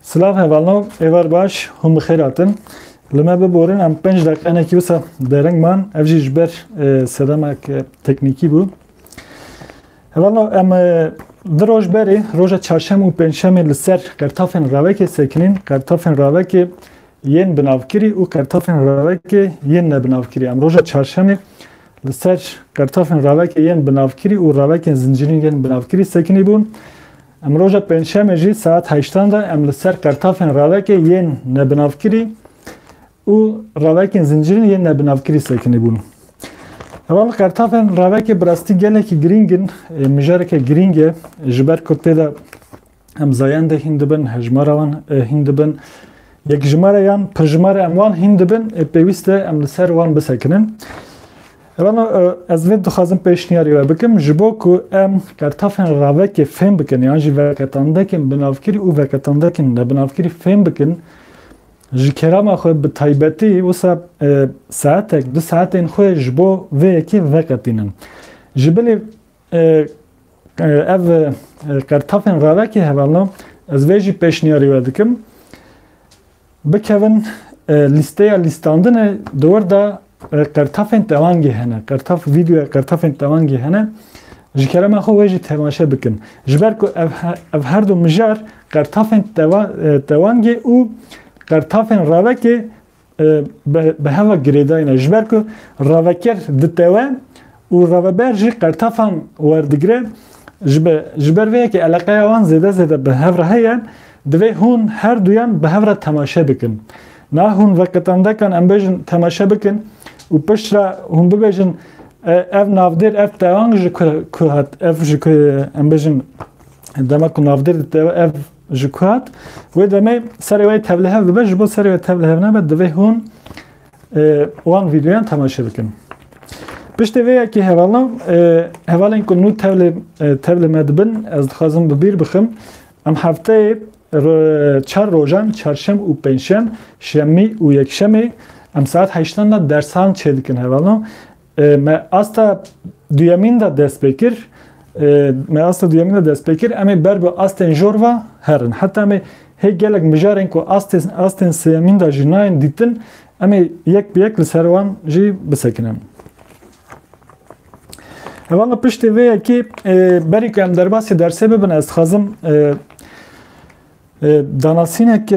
Silav hevalno êvar baş hûn bi xêr hatin. Li me biborin em pênc deqenekî wisa dereng man ev jî ji ber sedemek teknîkî bû. Hevalno em di roj berê roja çarşem û pêncşemê li ser qertafên ravekê sekinîn, qertafên ravekê yên binavkirî û qertafên ravekê yên nebinavkirî. Em roja çarşemê Li ser qertafên ravekê yên binavkirî û ravekên zincîrîn yên binavkirî sekinî bûn. Em roja pêncşemê jî saet heştan de em li ser qertafên ravekê yên nebinavkirî û ravekên zincîrîn yên nebinavkirî sekinî bûn. Heval li qertafên ravekê bi rastî gelekî girîng in, mijareke girîng e ji ber ku tê de Em zayendê hîn dibin, hejmara wan hîn dibin. Yekjimare yan pirjimare em wan hîn dibin ê pêwîst e em li ser wan bisekinin. Rano ez vê dixwazim pêşniyarî we bikim ji bo ku em kertafên ravekê fêm bikin yan jî veketandekên binavkirî û veketandekên nebinavkirî fêm bikin ji kerama xwe bi taybetî wisa saetek du saetên xwe ji bo vê yekê veketînin. Ji bilê Ev qertafên revekê heve ne. Ez vê jî pêşniyarî we dikim. Bikevin lîsteya lîstandinê di wir de qertafên tewangê hene. Qertaf vîdeoya qertafên tewangê hene. Ji kerema xwe wê jî temaşe bikin. Ji ber ku ev her du mijar qertafên tewangê û qertafên revekê bi heva girêdayîne ji ber ku revekir ditewe û reveber jî qertefan werdigire ji ber vê yekê eleqeya wan zêde zêde bi hev re heye divê hûn her duyan bi hev re temaşe bikin. Na hûn veqetendekan em bêjin temaşe bikin û piştre hûn bibêjin ev navdêr ev tewang ji ku hat ev ji ku em bêjin dema ku navdêr ditewe ev Ji ku hat wê demê serê wê tevlihev dibe ji bo serê wê tevlihev nebe divê hûn wan vîdyoyan temaşe bikin. Piştê vê yekê hevala hevalên ku nû tevlê tevlê me dibin ez dixwazim bi bîr bixim em hefteyê çar rojan çarşem û pênşem şemî û yekşemê em saet heştan de dersan çêdikin hevala Me asta duyemîn de dest pê kir. Me asta duyemîn de dest pê kir. Em ê ber bi astên jor ve herin. Heta em ê hê gelek mijarên ku astên sêyemîn de jî nayên dîtin, em ê yek bi yek li ser wan jî bisekinin. Hevala piştê vê yekê berî ku em derbasî dersê bibin ez dixwazim Danasînek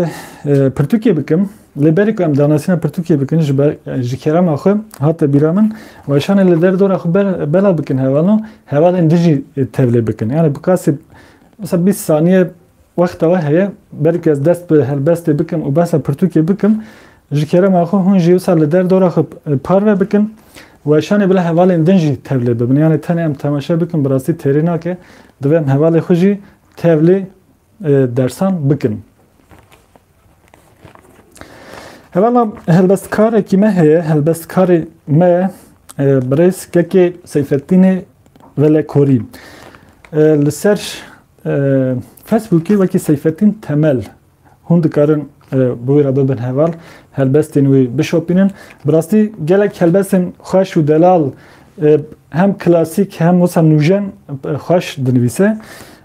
pirtûkê bikim. Lê berê ku em danasîna pirtûkê bikin ji ber ji kerema xwe hate bîra min weşanê li derdora xwe belav bikin hevalo hevalên dijî tevlê bikin. Yani bi qasî mesela bîst saniye wexta we heye berê ku ez dest bi helbestê bikim û behsa pirtûkê bikim ji kerema xwe hûn jî wisa li derdora xwe parve bikin weşanê bila hevalên din jî tevlê bibin. Yani tenê em temaşe bikin bi rastî têrê nake divê em hevalê xwe jî tevlê dersan bikin. Hevana helbestkarekî me heye, helbestkarê me birêz kekê Seyfettînê Velekorî. Li ser Facebookê wekî Seyfettîn Temel hûn dikarin bi wî re bibin heval, helbestên wî bişopînin. Bi rastî gelek helbestên xweş û delal hem klasîk hem wisa nûjen xweş dinivîse.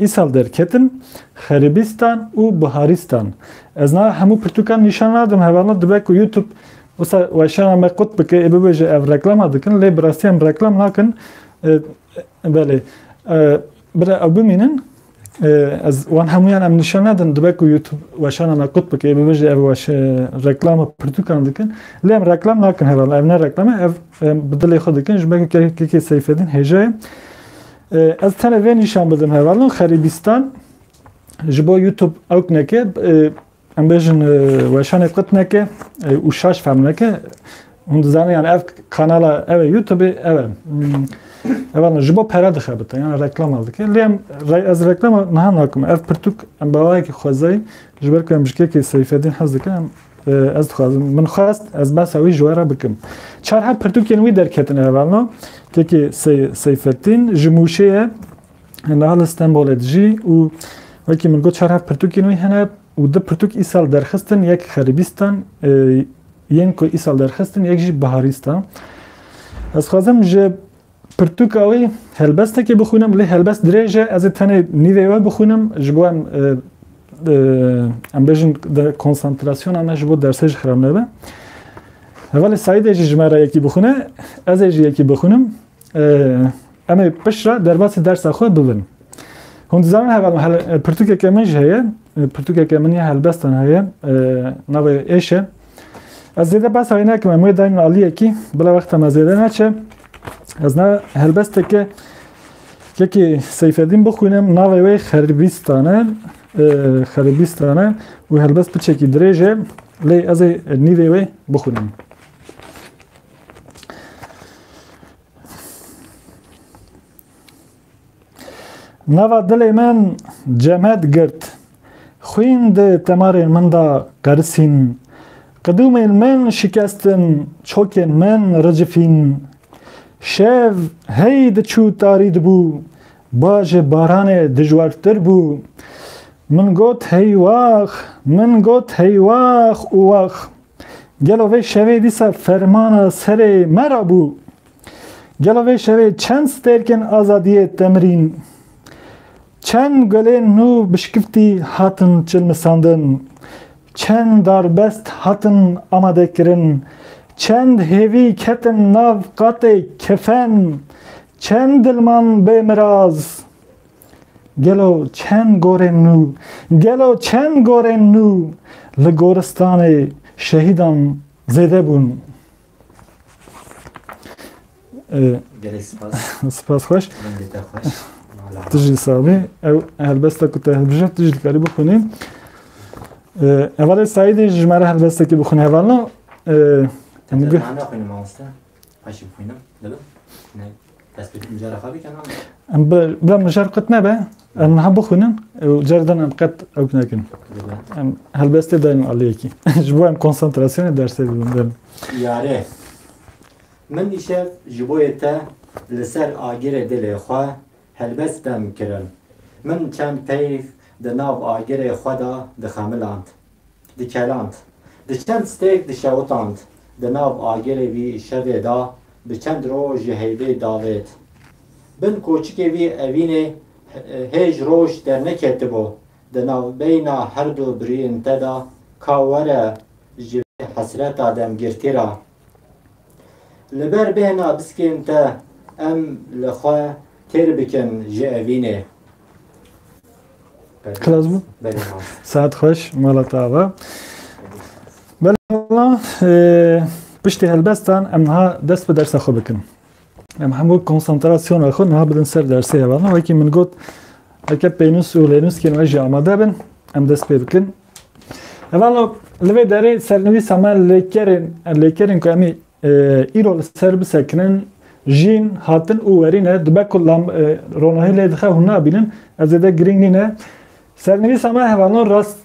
Îsal derketim Xeribîstan û Buharîstan. Ez niha hemû pirtûkan nîşan nadim. Hevalna dibe ku YouTube wisa weşana me qut bike ê bibêje ev reklama dikin lê bi rastî em reklam nakin. Belê. Bira ew bimînin ez wan hemûyan em nîşan nedin dibe ku YouTube weşana me qut bike ê bibêje ev weş reklama pirtûkan dikin lê em reklam nakin hevalna ev ne reklame ev bi dilê xwe dikin ji ber ku kekê Seyfedîn hêja ye. Ez tene vê nîşan bidim hevalin xerîbîstan ji bo YouTube ewk neke em bêjin weşanê qit neke û şaş fehm neke hûn dizanê yan ev kanala ev e YouTube ev e hevalin ji bo pere dixebite yan reklama dike lê em ez reklama niha nakim ev pirtûk em bawayekî xwezayî ji ber ku em ji kekê Seyfeddîn hez dike em Ez dixwazim min xwest ez behsa wî ji we re bikim. Çar her pirtûkên wî derketine hevalna tekî Seyfettîn ji Mûşê ye niha li Stenbolê dijî û wekî min got çar her pirtûkên wî hene û di pirtûk îsal derxistin yek xeribîstan yên ku îsal derxistin yek jî biharîstan. Ez xwazim ji Pirtûka wî helbestekê bixwînim lê helbest dirêj e ez ê tenê nîvê wê bixwînim ji bo em em bêjin konsantrasyona me ji bo dersê jî xirab nebe. Hevalê Saîdê jî ji me re yekî bixwîne ez ê jî yekî bixwînim em ê piştre derbasî dersa xwe bibin. Hûn dizanin heval pirtûkeke min jî heye pirtûkeke min ya helbestan heye navê êş e. Ez zêde behsa wê nekim em wê dayîn min aliyekî bila wexta me zêde neçe. Ez ne helbesteke yekê Seyfedîn bixwînim navê wê xeribîstan e xeribîstan e û helbest piçekî dirêj e lê ez ê nîvê wê bixwînim. Nava dilê min cemed girt. Xwîn di temarên min de qerisîn. Qidûmên min şikestin, çokên min ricifîn. Şev hey diçû tarî dibû, bajê baranê dijwartir bû. Min got hey wax, min got hey wax û wax. Gelo vê şevê dîsa fermana serê me re bû? Gelo vê şevê çend stêrkên azadiyê temrîn, çend gulên nû bi şkiftî hatin çilmisandin, çend darbest hatin amadekirin, çend hêvî ketin nav qatê kefen, çend dilman bê miraz. Gelo çend gorên nû, gelo çend gorên nû li goristanê şehîdan zêde bûn. Gelek spas. Spas xweş. Mendete xweş. Tu jî sabî. Ew helbesta ku te hilbije tu jî dikarî bixwînî. Hevalê Saîdê ji me re helbestekî bixwîne hevalna. Te ne xwîne mamoste. Xweş bixwîne. Dibin. Em bi bila mijar qet nebe, em niha bixwînin û car din em qet ew nekin. Em helbestê dayên aliyekî. Ji bo em konsantrasyonê dersê dibin derin. Yare, min îşev ji bo yê te li ser agirê dilê xwe helbest dem kirin. Min çend peyv di nav agirê xwe de dixemiland. Dikeland. Di çend stêk dişewitand. Di nav agirê vî şevê da bi çend roj ji heyvê davêt. Bin koçikê vî evînê hêj roj derneketibo. Di navbeyna herdu birîn te da ka were ji vê hesreta demgirtî ra Li ber bêhna biskên te em li xwe têr bikin ji evînê. Xilas bû? Belê ma. Saet xweş mala te ava. Belê mala piştî helbestan em niha dest bi dersa xwe bikin. Em hemû konsantrasyona xwe niha bidin ser dersê hevalin wekî min got eke pênûs û lênûskên we jî amade bin em dest pê bikin Evalo li vê derê sernivîsa me lêkerên lêkerên ku emî e, îro li ser bisekinin jîn hatin û werîne dibe ku lam e, ronahî lê dixe hûn nabînin ez zêde girîng nîne sernivîsa me hevalo rast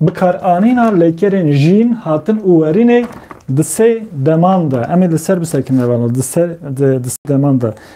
bikar anîna lêkerên jîn hatin û werînê di sê deman de emê li ser bisekinin hevalo di ser di, di sê deman de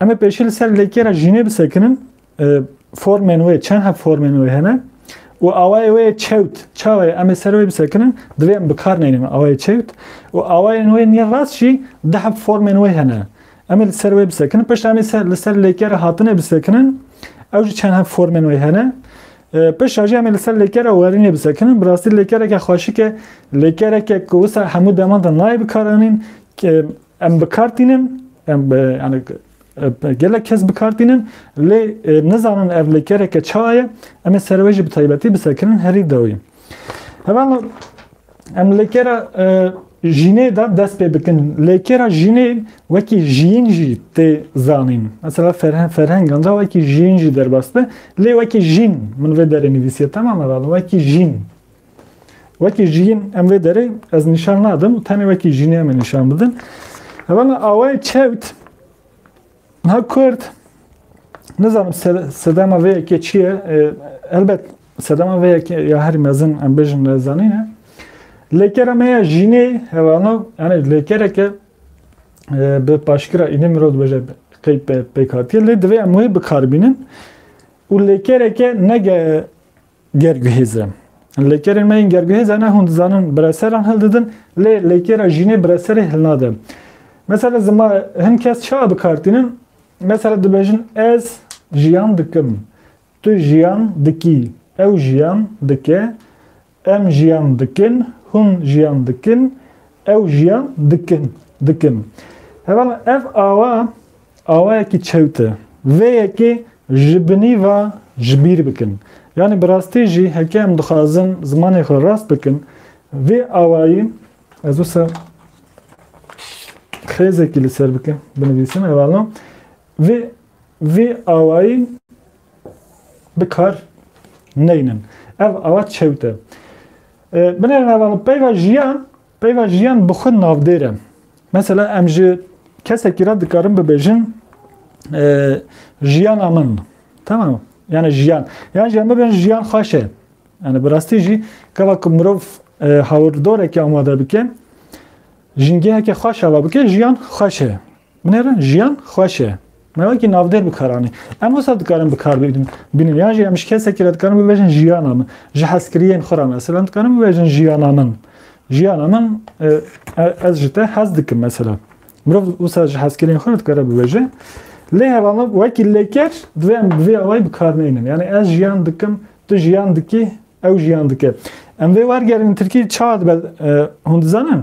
Em ê pêşî li ser lêkê re jînê bisekinin. Formên wê çend heb formên wê hene û awayê wê çewt çawe em ê ser wê bisekinin divê em bikar neynin awayê çewt û awayên wê nî rast jî di heb formên wê hene. Em ê li ser wê bisekinin. Pişt em ê li ser lêkê re hatinê bisekinin. Ew jî çend heb formên wê hene. Pişt jî em ê li ser lêkê re werînê bisekinin. Bi rastî lêkereke xweşik e. Lêkereke ku wisa hemû deman de nayê bikaranîn. Em bi kar tînin, em yani gelek kes bi kar tînin lê nizanin ev lêkereke ça ye em ê serê wê jî bi taybetî bi serkirin herî dawî. Hevala em lêkera jînê de dest pê bikin. Lêkera jînê wekî jiyîn jî tê zanîn. Mesela ferheng ferhengan de wekî jiyîn jî derbas be lê wekî jîn min vê derê nivîsiye temam hevala wekî jîn. Wekî jiyîn em vê derê ez nîşan nadim û tenê wekî jiyînê em ê nîşan bidin. Evana awayê çewt ha Kurd nizanim sedema vê yekê çi ye elbet sedema vê yekê ya herî mezin em bêjin nezanîne. Lêkera me ya jiyînê hevano yani lêkereke bi paşkira înê mirov dibêje qey pêk hatiye lê divê em wê bikarbînin û lêkereke nege Gerguhêz e. Lêkerên me yên gerguhêz e ne hûn dizanin bireseran hildidin lê lêkera jînê bireserê hilnade. Mesela zima hin kes çawa bikartînin mesela dibêjin ez jiyan dikim, tu jiyan dikî, ew jiyan dike, em jiyan dikin, hûn jiyan dikin, ew jiyan dikin, dikim. Heval ev awa Awayekî çewt e. Vê yekê ji binî ve ji bîr bikin. Yanî bi rastî jî heke em dixwazin zimanê xwe rast bikin, vê awayî ez wisa xêzekî li ser bikim, binivîsim evalo vê vê awayî bi kar neynin. Ev awa çewt e. Binêrin evalo peyva jiyan Peyva jiyan bi xwe navdêr e. Mesela em ji kesekî re dikarin bibêjin jiyana min. Tamam. Yani jiyan. Yan jiyan bibin jiyan xweş e. Yani bi rastî jî keva ku mirov hawirdorekî amade bike jingeheke xweş ava bike jiyan xweş e. Binêrin jiyan xweş e. Me wekî navdêr bikar anî. Em wisa dikarin bikar bînin yan jî em ji kesekî re dikarin bibêjin jiyana min. Ji hezkiriyên xwe re mesela em dikarin bibêjin jiyana min. Jiyana min ez ji te hez dikim mesela. Mirov wisa ji hezkiriyên xwe re dikare bibêje. Lê heva min wekî lêker divê em bi vê awayî bikar neynin. Yani ez jiyan dikim, tu jiyan dikî, ew jiyan dike. Em vê wergerînin tirkî çawa dibe hûn dizanin?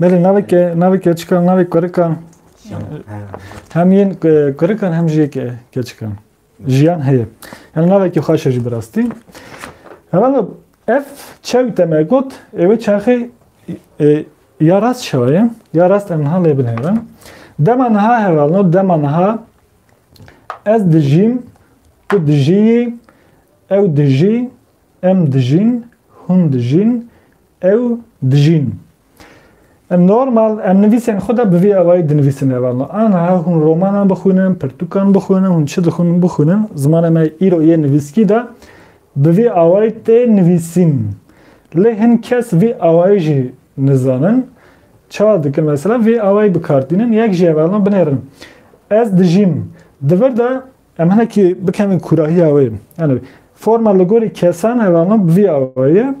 Belê naveke navê keçikan navê kurikan hem yên kurikan hem jî yê keçikan jiyan heye. Yani navekî xweş e jî bi rastî. Herhalde ev çew te me got êwê çaxê ya rast şaye ya rast em niha lê binêrin. Dema niha herhalde dema niha ez dijîm tu dijîyî ew dijî em dijîn hûn dijîn Ew dijîn. Em normal em nivîsên xwe de bi vî awayî dinivîsin eva me. Aniha hûn romanan bixwînin, pirtûkan bixwînin, hûn çi dixwînin bixwînin, zimanê me îro yê nivîskî de bi vî awayî tê nivîsîn. Lê hin kes vî awayî jî nizanin. Çawa dikin mesela vî awayî bi kar tînin, yek jî eva me binêrin. Ez dijîm. Di vir de Em hinekî bikevin kûrahiya wê. Yanî forma li gorî kesan heve ama bi vî awayî ye.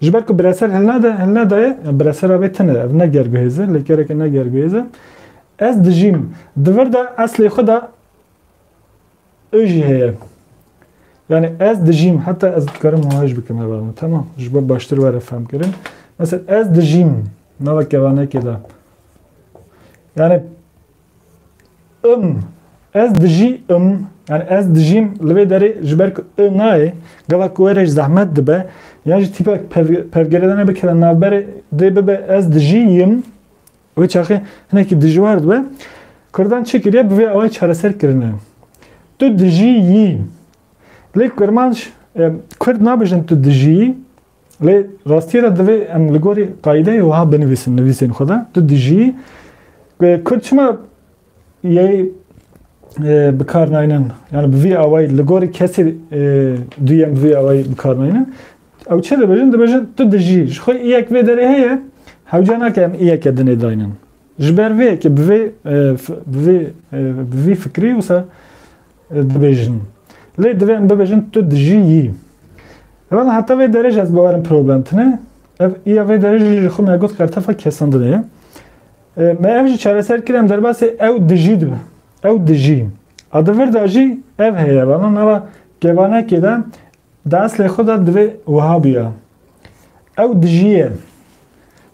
Ji ber ku bireser hilnede, hilnedaye, biresera wê tune, ev ne gerguhêz e, lêkereke ne gerguhêz e. Ez dijîm. Di vir de eslê xwe de û jî heye. Yanî ez dijîm, heta ez dikarim hewaj bikim heva min, tamam. Ji bo baştir were fehmkirin. Mesela ez dijîm, nava kevanekê de. Yani Im, ez dijî im, yani ez dijîm li vê derê ji ber ku i nayê, gava ku wê re ji zehmet dibe, yan jî tîpek pevgeredane bikeve navberê dê bibe ez dijî yim, wê çaxê hinekî dijwar dibe. Kurdan çi kiriye bi vê awayê çareser kirine. Tu dijî yî. Lê kurmanc, kurd nabêjin tu dijî yî, Lê rastiyê de divê em li gorî qayîdeyê wiha binivîsin nivîsên xwe de, tu dijî Kurd çima yê bikar naynin? Yani bi vî awayî li gorî kesê duyem bi vî awayî bikar naynin. Ew çi dibêjin? Dibêjin tu dijî. Ji xwe îyek vê derê heye, hewce nake em îyeke dinê daynin. Ji ber vê yekê bi vê bi vê bi vî fikrî wisa dibêjin. Lê divê em bibêjin tu dijî yî. Wala heta vê derê jî ez bawerim problem tune. Ev ya vê derê jî ji xwe me got qertefa kesandinê ye. Me ev jî çareser kir em derbasê ew dijî dibe. Ew dijî. A di vir de jî ev heye. Wala nava kevanekê de Di eslê xwe de divê wiha bûya. Ew dijîye.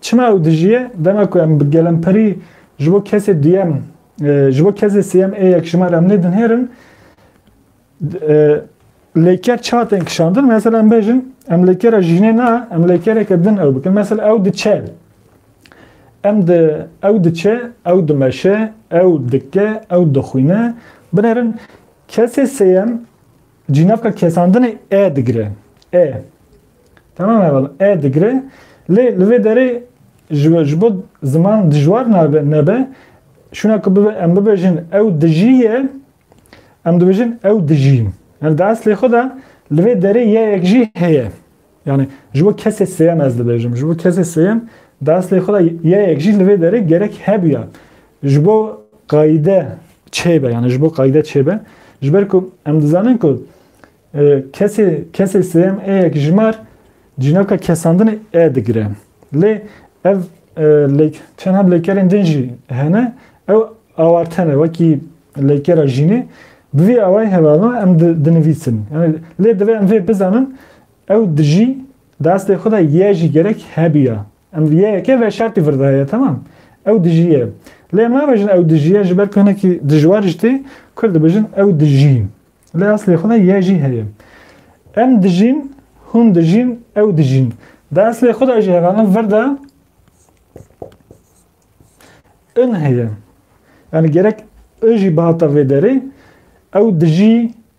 Çima ew dijîye? Dema ku em bi gelemperî ji bo kesê duyem, e, ji bo kesê sêyem ê yekjimar em nêdinhêrin, e, lêker çiha tên kişandin. Mesela em bêjin, em lêkera jînê na, em lêkereke din ew bikin. Mesela ew diçe. Em di ew diçe, ew dimeşe, ew dike, ew dixwîne. Binêrin kesê sêyem Cînavka kesandinê e digire. E. Tamam heval e digire. Lê li vê derê ji bo ziman dijwar nabe nebe şuna ku bibe em bibêjin ew dijî ye em dibêjin ew dijî. Yani di eslê xwe de li vê derê yeyek jî heye. Yanî ji bo kesê sêyem ez dibêjim. Ji bo kesê sêyem di eslê xwe de yayek jî li vê derê gerek hebûya. Ji bo qayîde çêbe yanî ji bo qayîde çêbe ji ber ku em dizanin ku kesê kesê sêyem ê yek jimar cînoka kesandinê e digire. Lê ev çend heb lêkerên din jî hene ew awartene wekî lêkera jînê bi vî awayê hevalna em dinivîsin. Lê divê em vê bizanin Ew dijî destê xwe de yê jî gerek hebûya. Em di yêyeke veşartî vir de heye temam. Ew dijî ye. Lê em nabêjin ew dijî ye ji ber ku hinekî dijwar ji tê ku dibêjin ew dijî. Lê eslê xwe de yê jî heye. Em dijîn, hûn dijîn, ew dijîn. Di eslê xwe de jî hevalin vir de in heye. Yani gerek i jî bihata vê derê ew dijî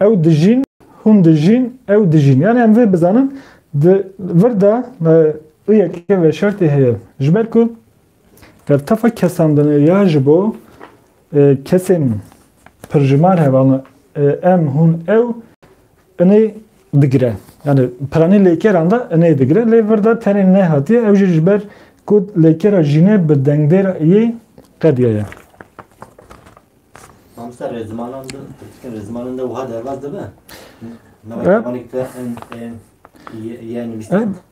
Ew dijîn, hûn dijîn, ew dijîn. Yani em vê bizanin di vir de û yekê veşartê heye. Ji ber ku ev tefa kesandine ya ji bo kesên pirjimar hevalin em, hûn, ew inê digire. Yani piranî lêkeran de inê digire. Lê vir de tenê nehatiye ew jî ji ber ku lêkera jîne bi dengdêr yê qediye ye. Mamoste rê zimanan de, tirkî rê zimanan de wiha derbas dibe? Navê te en en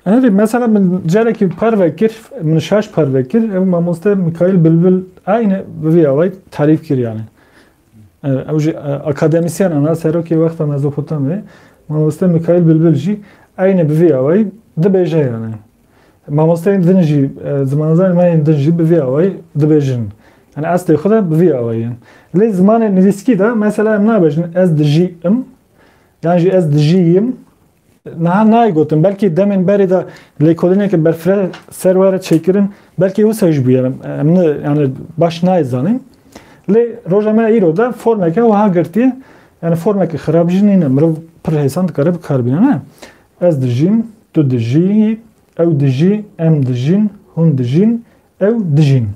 Herî mesela min carekî parve kir min şaş parve kir ew mamoste Mikail Bilbil aynı vîya way tarîf kir yani. Ew jî akademisyen ana serokê wexta Mezopotamyayê mamoste Mikail Bilbil jî aynı bi vîya way dibêje yani. Mamosteyên din jî, zimanzanên me yên din jî bi vî awayî dibêjin. Yanî estê xwe de bi vî awayî ye. Lê zimanê nivîskî de mesela em nabêjin ez dijî im yan jî ez dijî yim. Niha nayê gotin. Belkî demên berê de lêkolîneke berfireh ser we re çêkirin. Belkî wisa jî bûye. Em ne yanî baş nayê zanîn. Lê roja me îro de formeke wiha girtiye. Yanî formeke xirab jî nîne. Mirov pir hêsan dikare bi kar bîne ne. Ez dijîm, tu dijî, ew dijî, em dijîn, hûn dijîn, ew dijîn.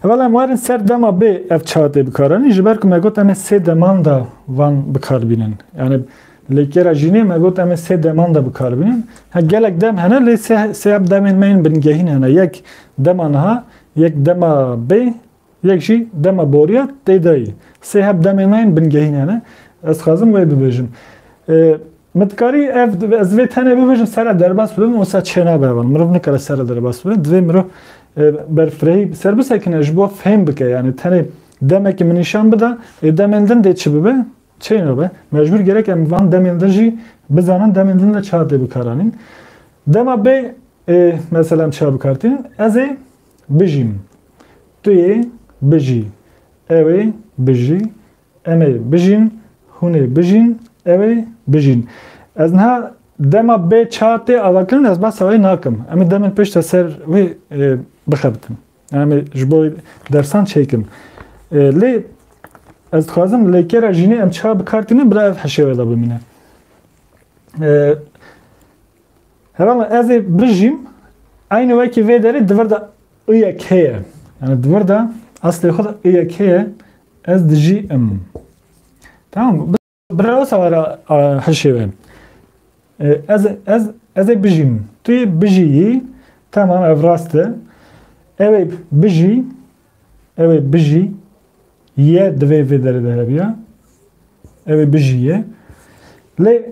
Evel em werin ser dema bê ev çatê bikaranî ji ber ku me got em ê sê deman da van bikar bînin. Yani lêkera jînê me got em ê sê deman da bikar bînin. Ha gelek dem hene lê sê sê demên me yên bingehîn hene. Yek dema niha, yek dema bê Yek jî dema boriya tê de yî. Sê heb demên me yên bingehîne ne. Ez dixwazim wê bibêjim. Min dikarî ev ez vê tenê bibêjim sere derbas bibim wisa çênabe evan. Mirov nikare sere derbas bibe. Divê mirov berfirehî ser bisekine ji bo fêm bike yanî tenê demekî min nîşan bida ê demên din dê çi bibe çênabe. Mecbûr gerek em van demên din jî bizanin demên din de çar dê bikaranîn. Dema bê mesela em çar bikartînin ez ê Bijî min. Tu yê bijî. Ew ê bijî. Em ê bijîn. Hûn ê bijîn. Ew ê bijîn. Ez niha dema bê ça tê avakirin ez behsa wê nakim. Em ê demên pêş de ser wê bixebitin. Em ê ji bo dersan çêkim. Lê ez dixwazim lêkera jînê em ça bi kar tînin bila ev hişê we de bimîne. Herhalde ez ê bijîm aynı wekî vê derê di vir de iyek heye. Yani di vir de aslê xwe de iyek heye ez dijî im. Tamam Bira wisa were hişê we. Ez ez ez ê bijîm. Tu yê bijîyî. Tamam ev rast e. Ew ê bijî. Ew ê bijî. Ye divê vê derê de hebiya. Ew ê bijî ye. Lê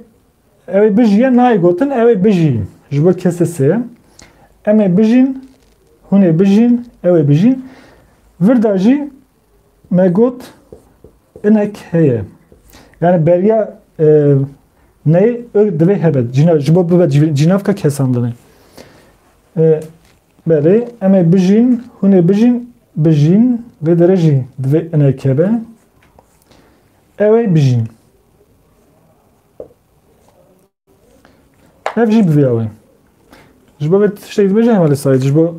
Ew ê bijîye nayê gotin ew ê bijîn. Ji bo kesê sê. Em ê bijîn, hûn ê bijîn, ew ê bijîn. Vir de jî me got inek heye. Yani beriya e, neyê ök divê hebet. Cîna, ji bo bibet cînavka kesandinê. E, berê em ê bijîn, hûn ê bijîn, bijîn vê derê jî divê inek hebe. Ew ê bijîn. Ev jî bivîya wê. Ji bo vê tiştek dibêje hema li sayê ji bo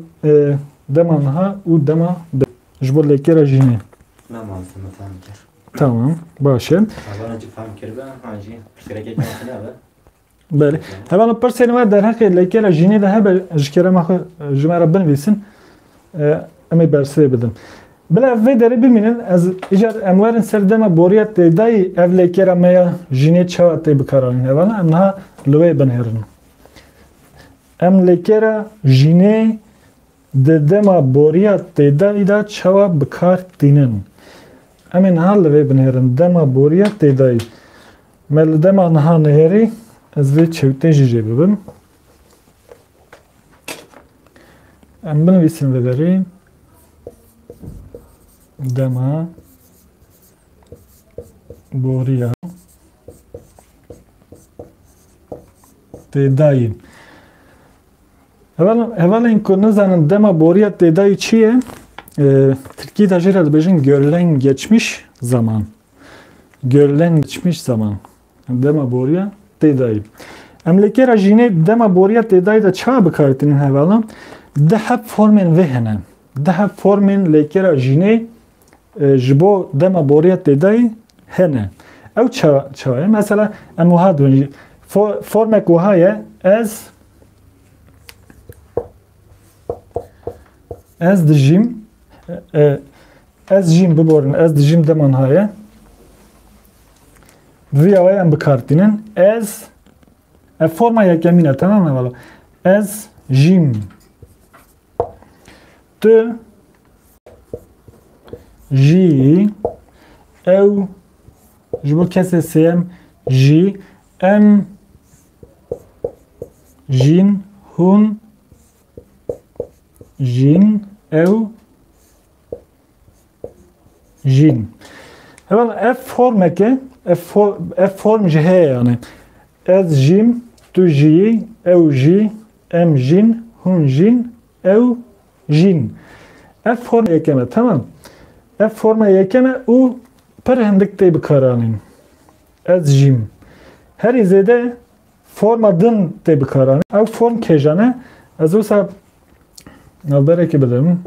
dema niha û dema bi ji bo lêkêra jînê. Tamam baş e. Belê. Hevana pirsên me derheqê lêkêra jînê de hebe ji kêrema xwe ji me re binivîsin. Em ê bersivê bidin. Bila ev vê derê bimînin, ez îcar em werin ser dema boriya têdayî ev lêkera me ya jînê çawa tê bikaranîn. Hevana em niha li wê binêrin. Em lêkera jînê di dema boriya têdayî de çawa bikar tînin. Em ê niha li vê binêrin. Dema boriya têdayî. Me li dema niha nihêrî, ez vê çewtê jî jê bibim. Em binivîsin li berê dema boriya têdayî. Hevalên ku nizanin dema boriya têdayî çi ye? Tirkî de jê re dibêjin görlen geçmiş zaman. Görlen geçmiş zaman. Dema boriya têdayî. Em li kêra jînê dema boriya têdayî de çawa bikaritînin hevala? Di hep formên vê hene. Di hep formên lê kêra jînê e, ji bo dema boriya têdayî hene. Ew çawa ye? Mesela em wiha dibin. Formek wiha ye ez ez dijîm e, e, Ez jîm biborin ez dijîm deman haye. Vîya wê em bikartînin. Ez ev forma yekemîn e tamam e Ez jîm tu jî ew ji bo kesê sêyem jî em jîn hûn jîn ew Jîn. Heval ev formeke ev form ev form ji heye yani. Ez jîm, tu jî, ew jî, em jîn, hûn jîn, ew jîn. Ev forma yekeme tamam. Ev forma yekeme û pir hindik tê bikaranîn. Ez jîm. Herî zêde forma din tê bikaranîn. Ew form kêjane ez wisa navberekê bidim.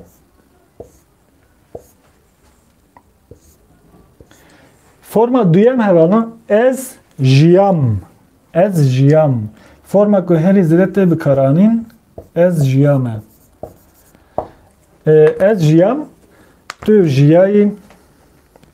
Forma duyem herana ez jiyam. Ez jiyam. Forma ku herî zêde tê bikaranîn ez jiyam e. Ez jiyam tu jiyayî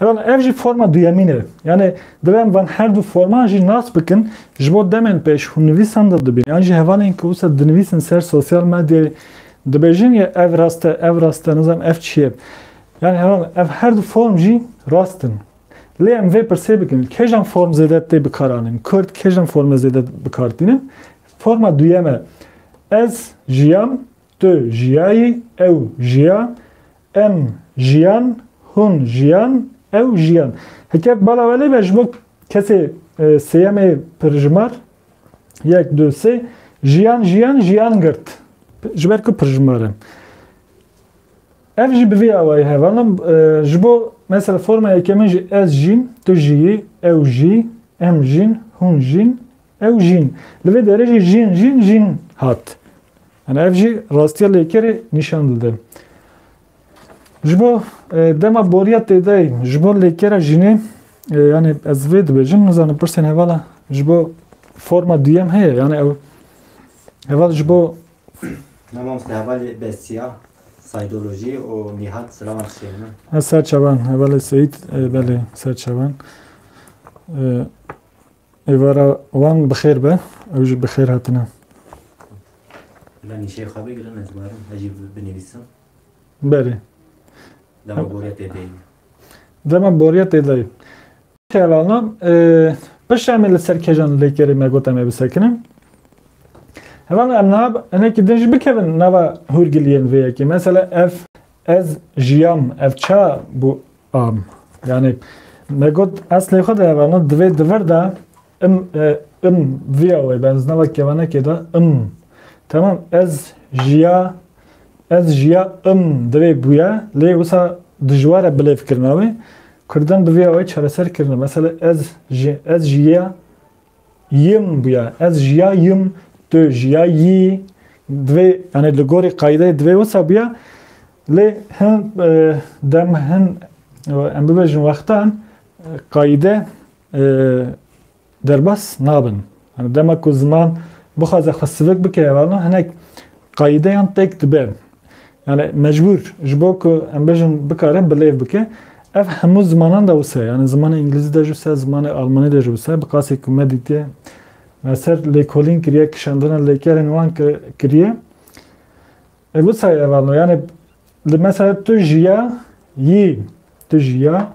Heval ev jî forma duyemîn e. Yani divê em van her du forman jî nas bikin ji bo demên pêş hûn nivîsan de dibîn. Yan jî hevalên ku wisa dinivîsin ser sosyal medyayê dibêjin ya ev rast e, ev rast e, nizam ev çi ye. Yani heval ev her du form jî rast in. Lê em vê pirsê bikin. Kêjan form zêde tê bikar anin? Kurd kêjan forma zêde bikar tînin? Forma duyeme. Ez jiyam Tu jiyayî, ew jiya, em jiyan, hûn jiyan, ew jiyan. Heke bala we lê be ji bo kesê sêyemê pirjimar yek du sê jiyan jiyan jiyan girt. Ji ber ku pirjimar e. Ev jî bi vê awayî hevana ji bo mesela forma yekemin jî ez jîn, tu jiyî, ew jî, em jîn, hûn jîn, Ew jîn. Li vê derê jî jîn jîn jîn hat. Yani ev jî rastiya lêkerê nîşan dide. Ji bo dema boriya têdayî ji bo lêkera jînê yani ez vê dibêjim nizanim pirsên hevala ji bo forma duyem heye yani ew heval ji bo Ne mamoste hevalê besiya saydolojî û nîhat silavan tişê min. Ez serçevan hevalê Seyîd belê serçevan. Êvara wan bi xêr be, ew jî bi xêr hatine. Bila nîşeyê xwe bigirin ez barim ez jî binivîsim. Berê. Dema boriya tê deyî. Dema boriya tê deyî. Kevana pişta me li ser kejan lêkerê me gote me bisekinin. Hevana em niha hinekî din jî bikevin nava hûrgiliyên vê yekê. Mesela ev ez jiyam ev ça bû Am. Yani me got eslê xwe de ev ana divê di vir de im im viya wê ben znava kevanekê de im tamam ez jiya ez jiya im divê bûye lê wisa dijwar e bilêv kirina wê Kurdan bi viya wê çareser kirine mesela ez ji ez jiya Yim bûya, ez jiya yim, tu jiya yî. Divê yanê li gorî qayîdeyê divê wisa bûya. Lê hin dem hin em bibêjin wextan qayîde derbas nabin. Dema ku ziman bixwaze xwe sivik bike, hinek qayîdeyan têk dibe. Yani mecbur ji bo ku em bêjin bikare bilêv bike. Ev hemû zimanan de wisa ye. Yani zimanê îngilîzî de jî wisa ye, zimanê almanî de jî wisa ye. Bi qasî ku me dîtiye me ser lêkolîn kiriye, kişandina lêkerên wan kiriye. E wisa ye ev alma. Yani li mesela tu jiya yî, tu jiya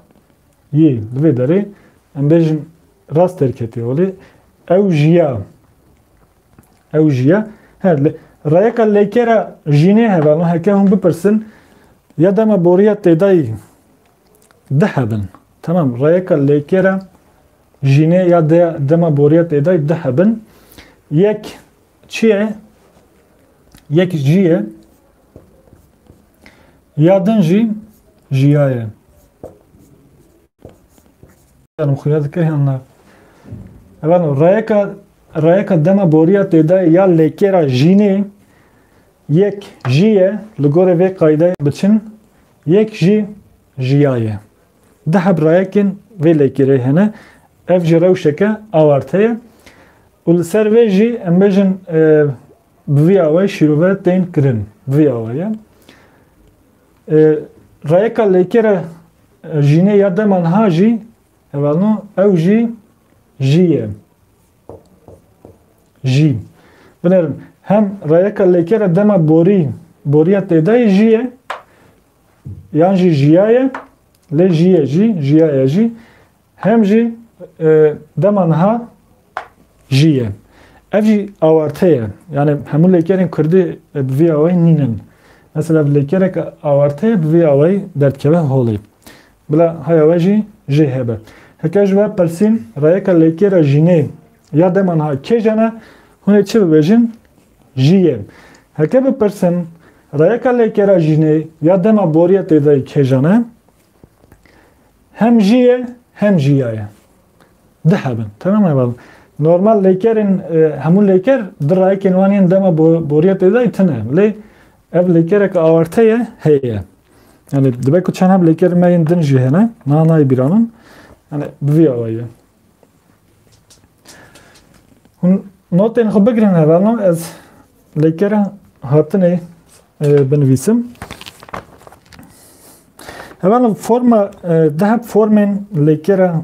yî li vê derê em bêjin rast derketiye olê ew jiya. Ew jî ye. He, reyeka leyke re jînê heve no heke hûn bipirsin ya dema boriya têdayî di hebin. Tamam, reyeka leyke re jînê ya de dema boriya têdayî di hebin. Yek çi ye? Yek jî ye. Ya din jî jiya ye. Em xuya dikir yan na. Evan reyeka Rayeka dema boriya têdayê ya lêkêra jînê yek jî ye li gorê vê qaydayê biçin yek jî jiya ye. Du heb rayekên vê lêkêrê hene, ev jî rewşeke awarte ye û li ser vê jî em bêjin bi vî awayî şîrove tên kirin. Bi vî awaye rayeka lêkêra jînê ya dema niha jî Hevano ew jî jî ye. Jî. Binêrin. Hem reyeka lêkere dema borî boriya têdayê jî ye yan jî jiya ye lê jî ye jî jiya ye jî hem jî e, dema niha jî ye. Ev jî awarte ye. Yani hemû lêkerên Kurdî e, bi vî awayî nînin. Mesela lêkerek awarte ye bi vî awayî derdkeve holê. Bila haya we jî jê hebe. Heke ji we pirsîn, rayeka lêkêra jînê ya dema niha kêj ene, hûn ê çi bibêjin? Jî yê. Heke bipirsin, rayeka lêkêra jînê ya dema boriya têdayî kêjan e, hem jî yê hem jî ya ye. Di hebin. Temam e bal. Normal lêkerên, hemû lêker di rayekên wan yên dema boriya têdayî tune. Lê Ev lêkereke awarte ye heye. Yani dibe ku çend hem lêkerên me yên din jî hene, niha nayê bîra min. Yani bi vî awayî ye. Hûn notên xwe bigirin hevalno ez lêkera hatinê e, binivîsim. Hevalno forma e, deheb formên lêkera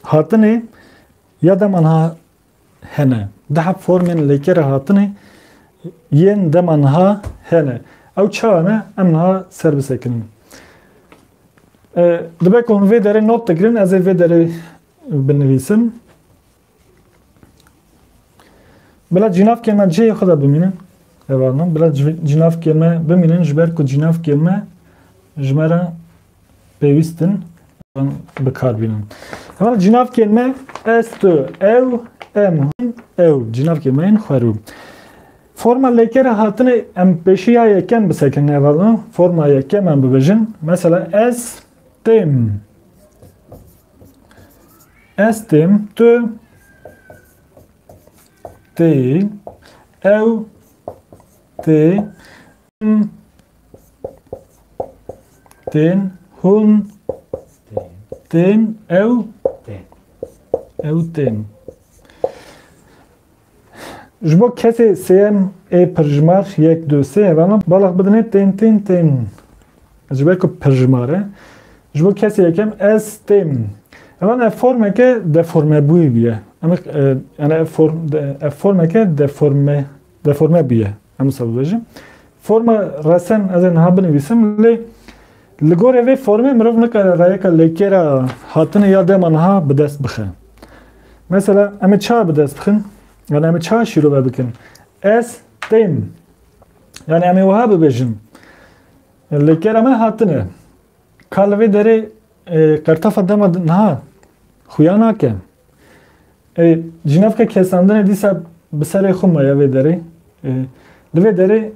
hatinê ya deman ha hene. Deh formên lêkere hatinê yên dema niha hene. Ew çawa ne? Em niha ser bisekinin. Dibe ku hûn vê derê not digirin, ez ê vê derê binivîsim. Bila cînavkê me cihê xwe de bimînin. Evanin, bila cînavkê me bimînin ji ber ku cînavkê me ji me re pêwîstin bikar bînin. Heman cinavkên me ez tu ew em hûn ew cinavkê me yên xwerû. Forma lêkere hatine em pêşî ya yekem bisekin nevazin forma yekem em bibêjin mesela ez têm ez têm tu tê ew tê Tên, hûn, tên, ew, ew tên. Ji bo kesê sêyem ê pirjimar yek du sê hevana balax bidinê tên tên tên. Ji ber ku pirjimar e. Ji bo kesê yekem ez tên. Hevan ev formeke deformebûyî bûye. Em yani ev form ev formeke deforme deforme bûye. Em wisa bibêjin. Forma resen ez ê niha binivîsim lê li gorê vê formê mirov nikare rayeka lêkêra hatinê ya dema niha bi dest bixe. Mesela em ê çawa bi dest bixin? Yani em ê çawa şîrove bikin? Ez tên. Yani em ê wiha bibêjin. Lêkêra me hatine. Ka li vê derê e, qertafa dema niha xuya nake. Ê, cînavka kesandinê dîsa bi serê xwe ma ya vê derê. Ê, li vê derê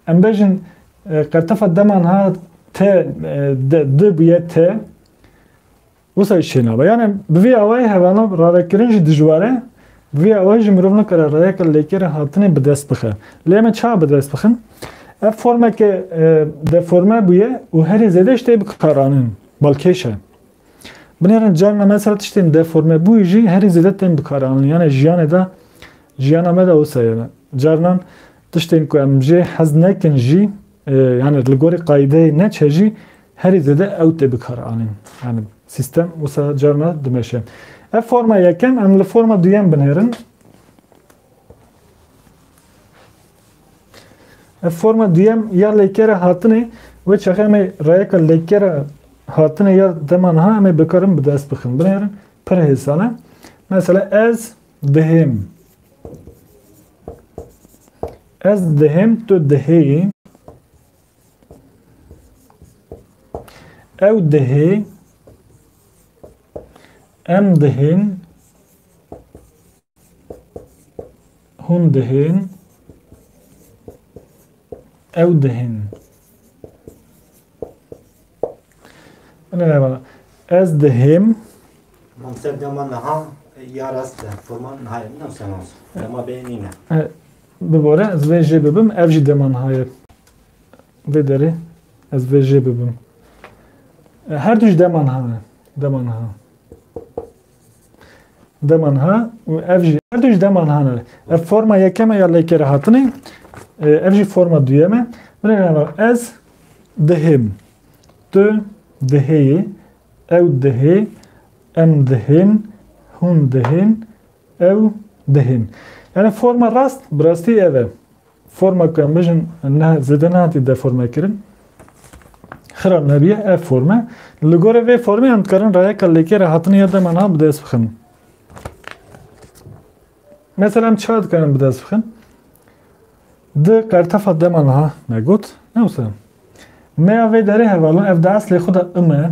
em bejin e, qertefa deman ha te e, de di bûye te wisa jî çênabe. Yani bi vê awayê hevana ravekirin jî dijwar e. Bi vê awayê jî mirov nikare rayeke lêkêra hatinê bi dest bixe. Lê em ê çawa bi dest bixin? Ev formeke e, deforme bûye û herî zêde ji tê bikaranin balkêş e. Binêrin carina me ser tiştên deformebûyî jî herî zêde tên bikaranîn. Yanê jiyanê de jiyana me de wisa ye ne. Carinan tiştên ku em jê hez nekin jî yani li gorî qayîdeyê neçe jî herî zêde ew tê bikaranîn. Yani sîstem wisa carina dimeşe. Ev forma yekem em li forma duyem binêrin. Ev forma duyem ya lêkera hatinê wê çaxa em ê rayeka lêkera hatinê ya dema niha em ê bikarin bi dest bixin. Binêrin pir hêsan e. Mesela ez dihêm. Ez dihêm tu dihêyî. Ew dihê. Em dihên. Hûn dihên, ew dihên. Ez dihêm. Mamser dema niha ya rast e. Forman niha ye. Nam sen olsun. Dema bê nîne. Bibore ez vê jê bibim. Ev jî dema niha ye. Vê derê ez vê jê bibim. Her du jî dema niha ne. Dema niha. Deman ha û ev jî her du jî deman han e. Ev forma yekeme ya lêkere hatinê. E, ev jî forma duyeme. Binê nava ez dihêm. Tu dihêyê. Ew dihê. Em dihên. Hûn dihên. Ew dihên. Yani forma rast, bi rastî ev e. Forma ku em bijin zêde nehatî deformekirin xirab nebiye ev forme. Li gorê vê formê em dikarin rayeka lêkêra hatinê ya dema niha bi dest bixin. Mesela em çiha dikarin bi dest bixin? Di qertefa dema niha me got, ne wisa. Meya vê derê hevalin ev di eslê xwe de ime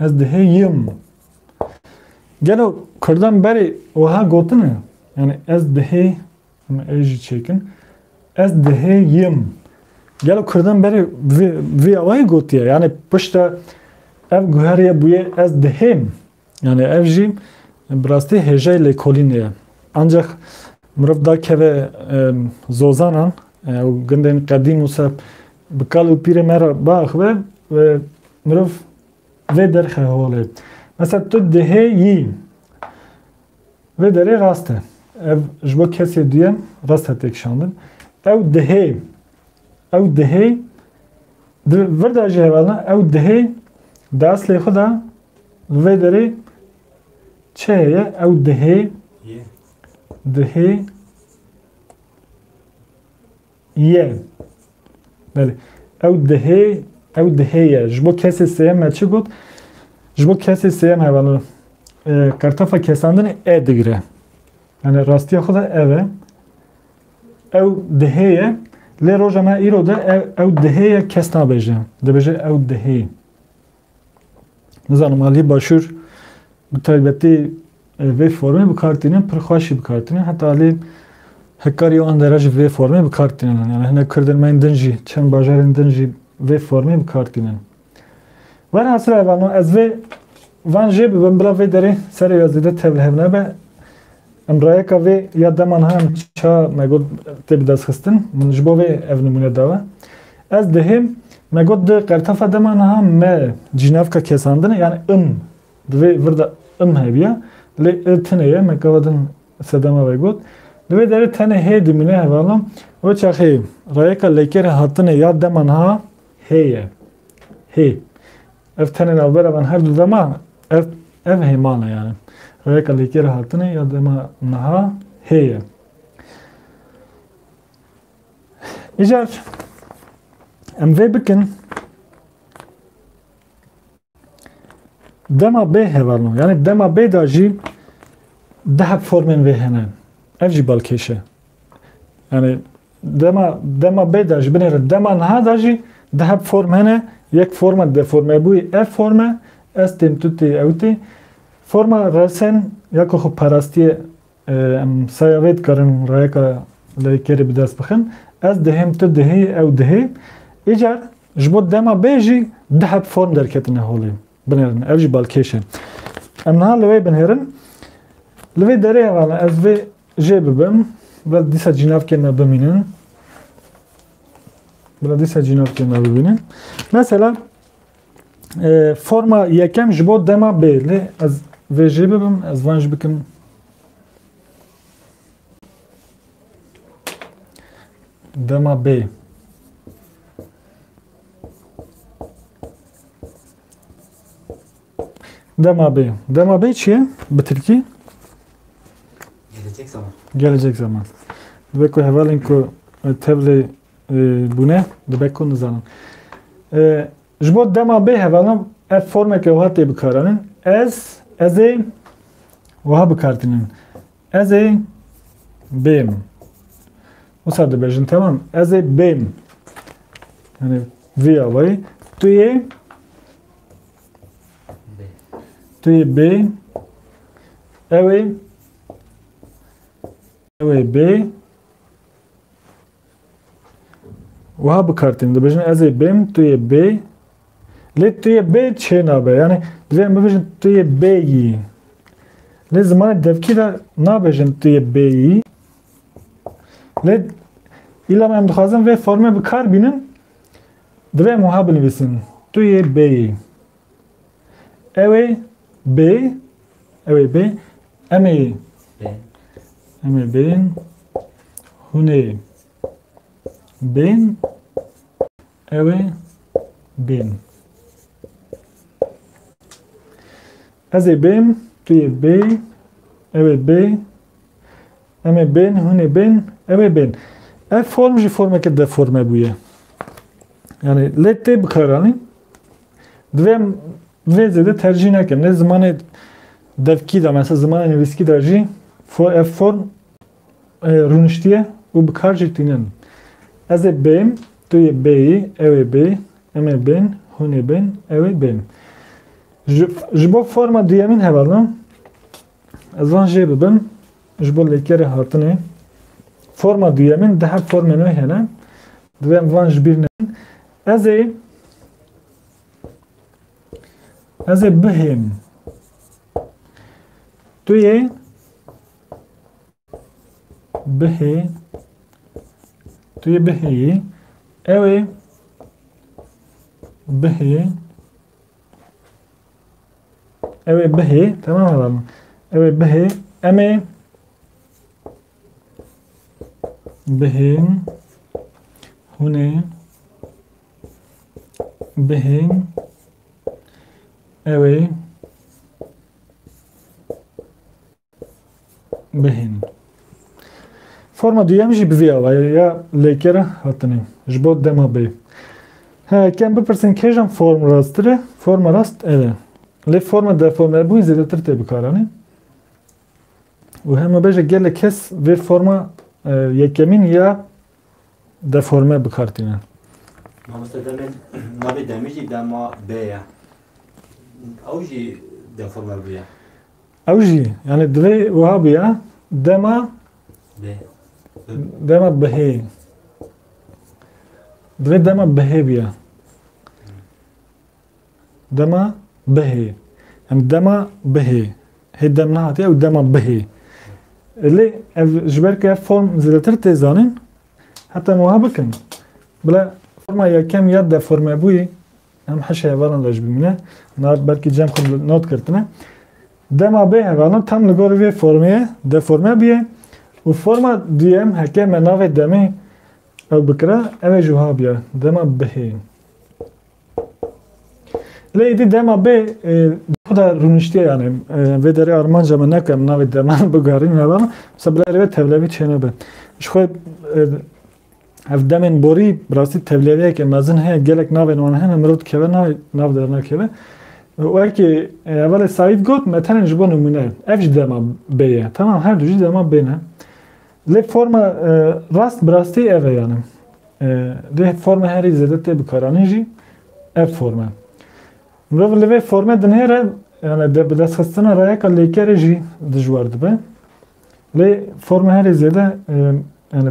Ez diheyim. Gelo Kurdan berê weha gotine? Yani ez dihê, yani ez jî çêkin. Ez diheyim. Gelo Kurdan berê vê awayê gotiye. Yani pişta ev guheriye bûye ez dihêm. Yani ev jî bi rastî hêjayê lêkolînê ye. Ancak mirov dakeve zozanan û gundên qedîm wisa Bi kal û pîrê me re biaxive û mirov vê derxe holê. Mesela tu dihê yî. Vê derê rast e. Ev ji bo kesê duyem rast e têkişandin. Ew dihê. Ew dihê. Di vir de jî heval ne. Ew dihê di eslê xwe de li vê derê çi heye? Ew dihê. Dihê. Ye. Belê. Ew dihê, ew dihê ye. Ji bo kesê sêyem me çi got? Ji bo kesê sêyem me vano qertefa kesandinê e digire. Yani rastiya xwe de ev e. Ew dihê ye. Lê roja me îro de ew, ew dihê ye kes nabêje. Dibêje ew dihê. Nizanim aliyê başûr bi taybetî vê formê bi kar tînin pir xweş jî bi kar tînin heta aliyê hekkarî û Andera jî vê formê bi kar tînin. Yani hinek kurdên me yên din jî çend bajarên din jî vê formê bi kar tînin. Velhasil ev ez vê van jê bibim bila vê derê serê ya zêde tevlihev nebe. Em rayeka vê ya dema niha em ça me got tê bidestxistin, min ji bo vê ev nimûne dawe. Ez dihêm me got di qertefa dema niha me cînavka kesandine yani im di vê vir de im hebiya lê i tune ye me gava din sedema ve got. Di vê derê tenê hê dimîne hevala wê çaxê rayeka lêkerê hatine ya dema niha hê ye. Hê. Ev tenê navbera van her du dema ev ev hê mala yani. Rêyeka lêkê re hatine ya dema niha hêye. Îcar em vê bikin dema bê hevalno yani dema bê da jî dehep formên vê hene. Ev jî balkêş e. Yani Dema dema bê de ji binê re dema niha de jî di heb form hene yek forma deformebûyî ev form e ez tên tu tê ew tê forma resên ya ku xwe parastiyê em saya vê dikarin rayeka leykerê bi dest bixin ez dihêm tu dihê ew dihê îcar ji bo dema bê jî di heb form derketine holê Binêrin. Ev jî balkêş e. Em niha li wê binêrin. Li vê derê hevala ez vê jê bibim. Bila dîsa cînavkên me bimînin. Bila dîsa cînavkên me bibînin. Mesela e, forma yekem ji bo dema bê. Lê ez vê jê bibim, ez van jî bikim dema bê. Dema bê. Dema bê çi ye? Bi Tirkî? Gelecek zaman. Gelecek zaman. Dibe ku hevalên ku e, tevlê e, bûne dibe ku nizanin. E, Ji bo dema bê hevalan ev formeke wiha tê bikaranin. Ez, ez ê wiha bikartinin. Ez ê bêm. Wisa dibêjin temam. Ez ê bêm. Yani vê avayî. Tu yê tu yê bê ew ê ew ê bê Wiha bikartîn dibêjin ez ê bêm tu yê bê lê tu yê bê çê nabe yanî divê em bibêjin tu yê bê yî lê zimanê devkî de nabêjin tu yê bê yî lê îla me em dixwazin vê formê bikar bînin divê em wiha binivîsin tu yê bê yî Ew ê bê ew ê bê em ê em ê bên hûn ê bên ew ê bên Ez ê bêm, tu yê bê, ew ê bê, em ê bên, hûn ê bên, ew ê bên. Ev form jî formeke deforme bûye. Yani lê tê bikaranîn Divê vê zêde tercîh nekin. Lê zimanê devkî de mesela zimanê nivîskî de jî ev form e, rûniştiye û bi kar jî tînin. Ez ê bêm, tu yê bêyî, ew ê bê, em ê bên, hûn ê bên, ew ê bên. Ji, ji bo forma duyemîn hevalin, Ezan jê bibin ji bo lêkerê hatinê. Forma duyemîn di her formên wê hene. Divê em van ji bîr nekin. Ez ê ez ê bihêm. Tu yê bihê tu yê bihêyî ew ê bihê Ew ê bihê, temam heba min. Ew ê bihê, em ê bihên hûn ê bihên ew ê bihîn. Forma duyem jî bi vê awayê ya lêkere hatinê ji bo dema bê. He, kem bipirsin kêjan form rastir e? Forma rast ev e. Lê forma deformebûn zêdetir tê bikaranîn. û hema beje gelek kes vê forma e, yekemîn ya deforme bikar tîne. Mamoste demê navê demê jî dema bê ye. Ew jî deforme bûye. Ew jî yani divê wiha bûya dema dema bihê divê dema bihê bûya dema bihê yani dema bihê hê dem nehatiye ew dema bihê lê ev ji ber ke form zêdetir tê zanin heta wiha bikin bila forma yekem ya deforme bûyî Em hişê hevalan re ji bin bine. Nard belkî cem xwe bi not girtine. Dema bê hevalan tam li gorî vê formê deforme bûye û forma duyem heke me navê demê ew bikira ew ê ji wiha biya dema bihê. Lê êdî dema bê xweda rûniştiye yanê vê derê armanca me neke em navê deman bigarîn hevalan. Mesela bi rêvê tevlevî çêne be. Ji xwe Ev demên borî bi rastî tevlêveyeke mezin heye, gelek navên wan hene, mirov dikeve navê, nav dernakeve. Wekî hevalê Saîd got, me tenê ji bo nimûne, ev jî dema bê ye. Temam her du jî dema bê ne. Lê forma rast bi rastî ev e yani. Lê forma herî zêde tê bikaranîn jî ev forma e. Mirov li vê formê dinêre yani de bi destxistina rayeka lêkerê jî dijwar dibe. Lê forma herî zêde yani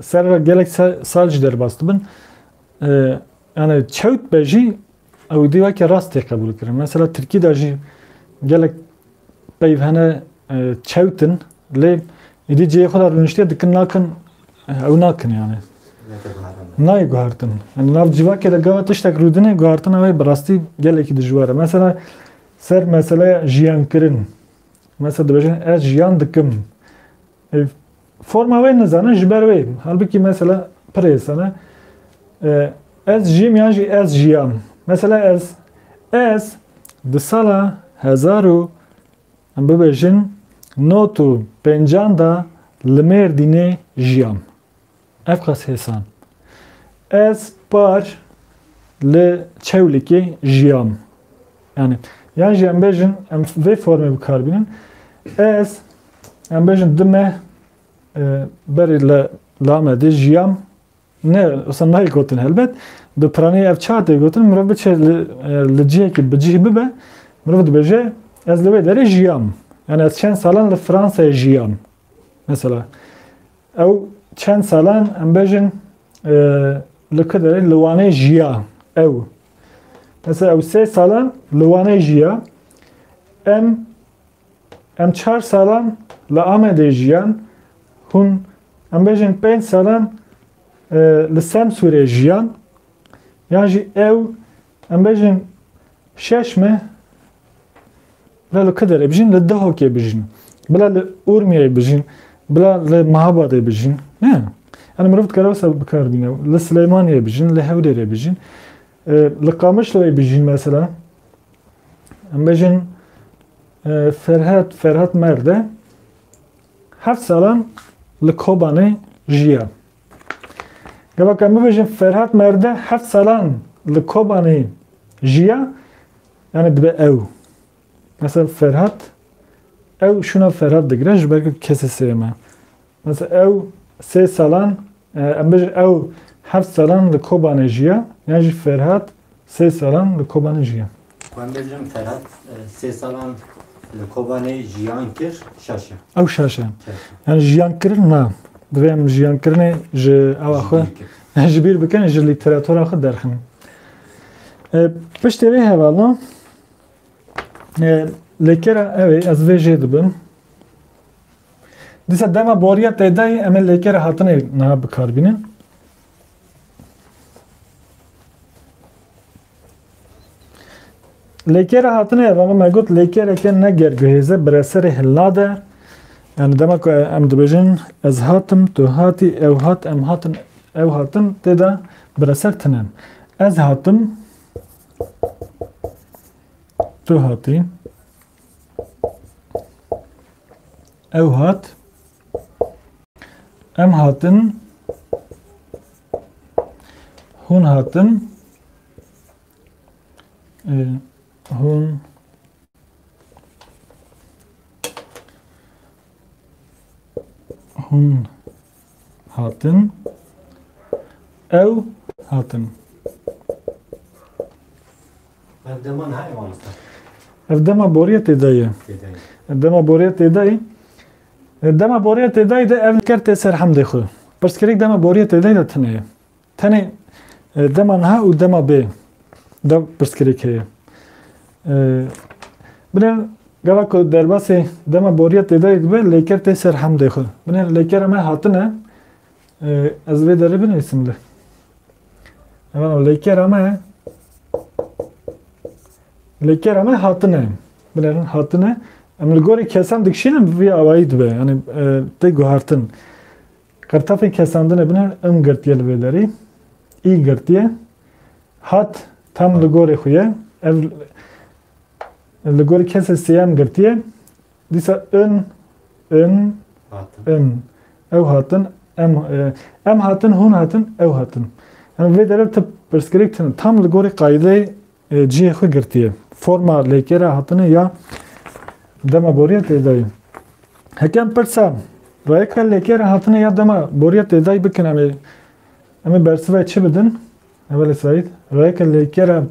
Serra gelek sal jî derbas dibin. Yani çewt be jî ew dî weke rast tê qebûlkirin. Mesela Tirkî de jî gelek peyv hene çewt in lê êdî cihê xwe de rûniştiye dikin nakin ew nakin yani. Nayê guhertin. Yani nav civakê de gawa tiştek rûdinê guhertina wê bi rastî gelekî dijwar e. Mesela ser meseleya jiyankirin. Mesela dibêjin ez jiyan dikim. Forma wê nizanin ji ber wê bû. Halbikî mesela pirê sene ez jîm yan jî ez jiyam. Mesela ez ez di sala hezar û em bibêjin not û pêncan da li Mêrdînê jiyam. Ev qas hêsan. Ez par li Çewlikê jiyam. Yanî yan jî em bêjin em vê formê bi kar bînin. Ez em bêjin di me berê li li Amedê jiyam. Ne wisa nayê gotin helbet. Bi piranî ev çar tê gotin mirov biçe li li cihekî bi cih bibe mirov dibêje ez li wê derê jiyam. Yanî ez çend salan li Fransayê jiyam. Mesela Ew çend salan em bejin li ku derê li Wanê jiya ew. Mesela ew sê salan li Wanê jiya. Em em çar salan li Amedê jiyan. Hûn em bejin pênc salan li Semsûrê jiyan. Yan jî ew Em bejin şeş me bila li Kiderê bijîn, li Dihokê bijîn, bila li Urmiyeyê bijîn, bila li Mehabadê bijîn. Ne. Yani mirov dikare wisa bikar bîne. Li Sileymaniyê bijîn, li Hewlêrê bijîn. Li Qamişloyê bijîn mesela. Em bejin Ferhat, Ferhat Merde heft salan li Kobanê jiya. Gava ka bibêjin Ferhat Merde heft salan li Kobanê jiya yani dibe ew. Mesela Ferhat ew şuna Ferhat digire ji ber ku kesê sê me. Mesela ew sê salan em bêjin ew heft salan li Kobanê jiya yan jî Ferhat sê salan li Kobanê jiya. Xwendê jin Ferhat sê salan li Kobanê jiyan kir, şaş e. Ew şaş e. Yani jiyan kirin na. Divê em jiyan kirinê ji ewa xwe ji bîr bikin, ji lîteratura xwe derxin. Piştê vê hevala lêkera ew ê ez vê jê dibim. Dîsa dema boriya tedayê em ê lêkera hatinê niha bikarbînin. Lêkêre hatine ya bala me got lêkêreke ne gerguhêze bireserê hillade yani dema ku em dibêjin ez hatim tu hatî ew hat em hatin ew hatin tê de bireser tinen ez hatim tu hatî Ew hat. Em hatin. Hûn hatin. E, hûn hûn hatin. Ew hatin. Ev dema ne ewan ata. Ev dema boriye têdayê. Ev dema boriye têdayê. Dema boriye têdayê de ev ker tê ser hemdê xwe. Pirsgirêk dema boriye têdayê de tune ye. Tenê dema niha û dema bê de pirsgirêk heye. Binê gava ku derbasê dema boriya têdayê dibe lêker tê ser hemdê xwe. Binê lêkera me hatine ez vê derê binivîsim li. Evana lêkera me lêkera me hatine. Binê hatine em li gorî kesan dikişînin vî awayî dibe. Yani tê guhartin. Qirtexê kesandinê bine im girtiye li vê derî. Î girtiye hat tam li gorê xwe ye. Ev li gorî kesê sêyem girtiye. Dîsa in, in, in. Ew hatin, em, em hatin, hûn hatin, ew hatin. Em vê derê tu pirsgirêk tune. Tam li gorî qayîdeyê Cihê xwe girtiye. Forma lêkêra hatine ya dema boriya têdayî. Heke em pirsa rayeka lêkêra hatine ya dema boriya têdayî bikin em ê em ê bersivayê çi bidin? Evelê Saîd, rayeka lêkêra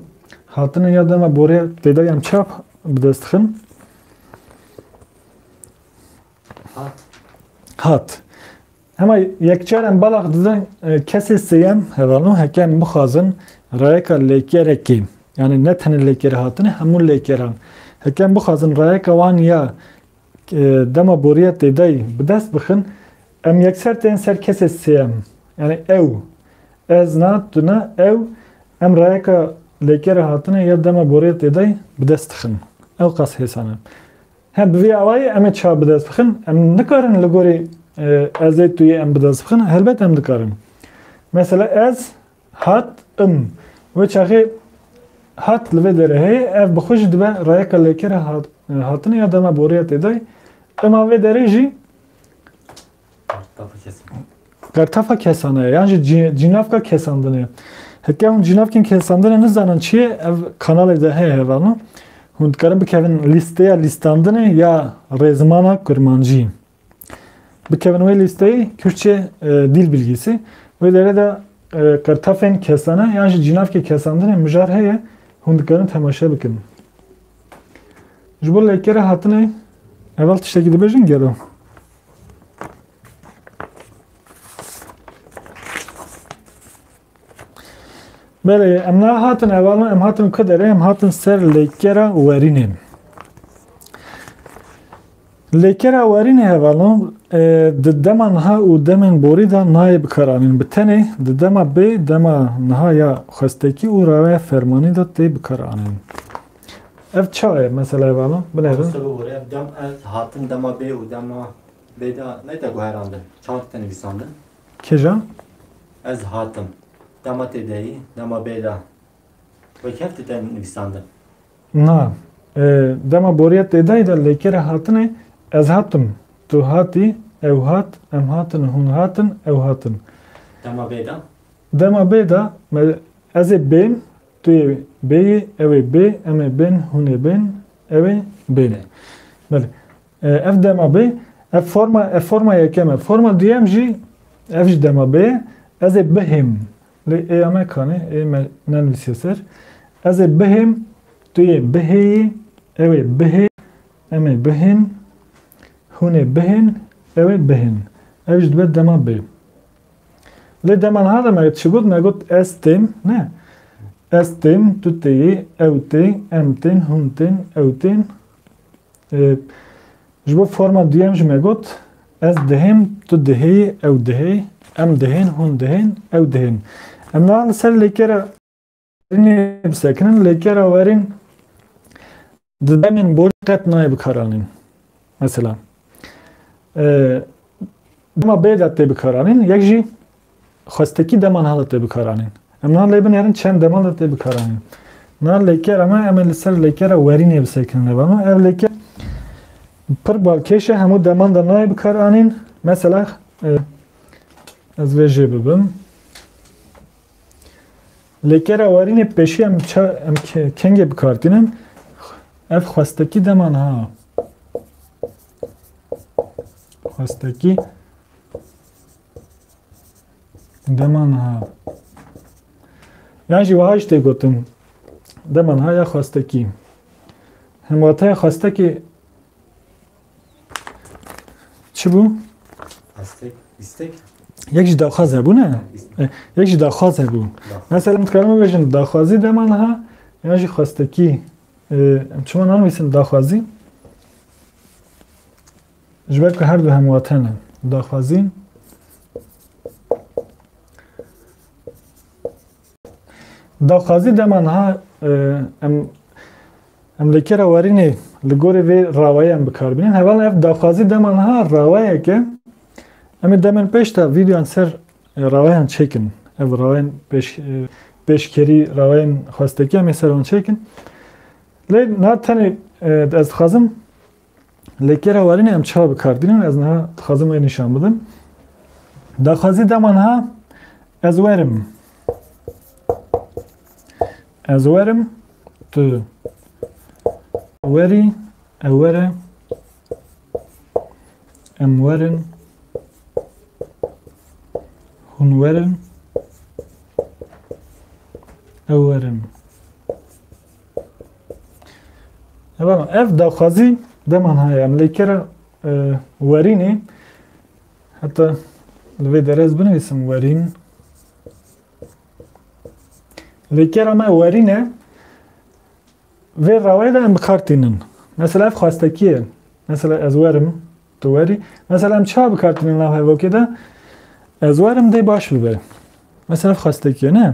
hatine ya dema boriya têdayî em çap bi dest dixin? Hat. Hat. Hema yekçar em belax didin kesê sêyem hevano heke em bixwazin rayeka lêkerekê yani ne tenê lêker hatine hemû lêkeran heke em bixwazin rayeka wan ya dema boriya têdayî bi dest bixin em yekser tên ser kesê sêyem yani ew ez na tu na ew em rayeka lêkere hatine ya dema boriya têdayî bi dest dixin ew qas hêsan e He, bi vî awayî em ê çav bi dest bixin. Em nikarin li gorî ez ê, tu yê em bi dest bixin? Helbet em dikarin. Mesela ez hat im. Wê çaxê hat li vê derê heye, ev bi xwe jî dibe rayeka lêkera hatinê ya dema boriya têdayê. Ima vê derê jî Pertafa kesane yan jî cînavka kesandinê. Heke hûn cînavkên kesandinê nizanin çi ye ev kanalê de heye hevano. Hûn dikarin bikevin lîsteya lîstandinê ya rêzimana kurmancî. Bikevin wê lîsteyê Kürtçe dîl bilgîsî. Wê derê de qirtafên kesane yan jî cînavkê kesandinê mijar heye hûn dikarin temaşe bikin. Ji bo lêkere hatinê evel tiştekî dibêjin gelo. Belê, em ne hatin evalan, em hatin ku derê, em hatin ser lêkera werînê. Lêkera werînê hevalan di dema niha û demên borî de nayê bikaranîn. Bi tenê di dema bê dema niha ya xwestekî û raya fermanî de tê bikaranîn. Ev çawa ye meseleyê vana? Binêrin. Mamoste bibore ev dem ev hatin dema bê û dema bê de neyte guherandin. Çawa dite nivîsandin? Kija? Ez hatim. Dema tê de yî, dema bê de. Wek hev dite nivîsandin. Na. Dema boriya tê de yî de lêkerê hatinê ez hatim, tu hatî, ew hat, em hatin, hûn hatin, ew hatin. Dema bê de? Dema bê de me ez ê bêm, Tu yê bêyî, ew ê bê, em ê bên, hûn ê bên, ew ê bêne. Belê. Ev dema bê, ev forma, ev forma yekem e. Forma duyem jî, ev jî dema bê ye. Ez ê bihêm. Lê êya me kanê, ê me nenivîsiye ser. Ez ê bihêm, tu yê bihêyî, ew ê bihê, em ê bihên, hûn ê bihên, ew ê bihên. Ev jî dibe dema bê. Lê dema niha de me çi got, me got ez tên, ne? Ez tên, tu têyî, ew tê, em tên, hûn tên, ew tên. Ji bo forma duyem jî me got ez dihêm, tu dihê, ew dihê, em dihên, hûn dihên, ew dihên. Em niha li ser lêkere Demê bisekinin lê kera werîn di demên borî qet nayê bikaranîn. Mesela dema bê de tê bikaranîn yek jî xwestekî deman hada tê bikaranîn. Em nan lê binêrin çend deman de tê bikaranîn. Nan lêkera me em ê li ser lêkera werînê bisekinin lê bano ev lêke pir balkêş e hemû deman de nayê bikaranîn. Mesela ez vê jê bibim. Lê kera warînê pêşî em ça em kengê bikar tînin ev xwestekî dema niha xwestekî dema niha yan jî wiha jî tê gotin dema niha ya xwestekî hemwateya xwestekî Çi bû? Estek, istek. Yek jî daxwaz hebû ne? Yek jî daxwaz hebû. Mesela min dikarim bibêjin daxwazî dema niha yan jî xwestekî. Em çima nanivîsin daxwazî? Ji ber ku her du hemwate ne. Daxwazî Daxwazî dema niha em em li kera werînê li gorî vê rawayê em bikar bînin. Hevala ev daxwazî dema niha rawayeke em ê demên pêş de vîdeoyan ser rawayan çêkin. Ev rawayan pêş pêşkerî rawayan xwestekî em ê ser wan çêkin. Lê niha tenê ez dixwazim Lê kêra warînê em çiha bi kar dînin ez niha dixwazim wê nîşan bidim. Daxwazî dema niha ez werim. Ez werim tu werî ew were em werin hûn werin ew werin. Evan ev daxwazî deman heye em lê kera e, werînê heta li vê derez binivîsim werîn lê kera me werîne vê rawayê de em bi kar tînin mesela ev xwestekî ye mesela ez werim tu werî mesela em çawa bi kar tînin nav hevokê de ez werim dê baş bibe mesela ev xwestekî ye ne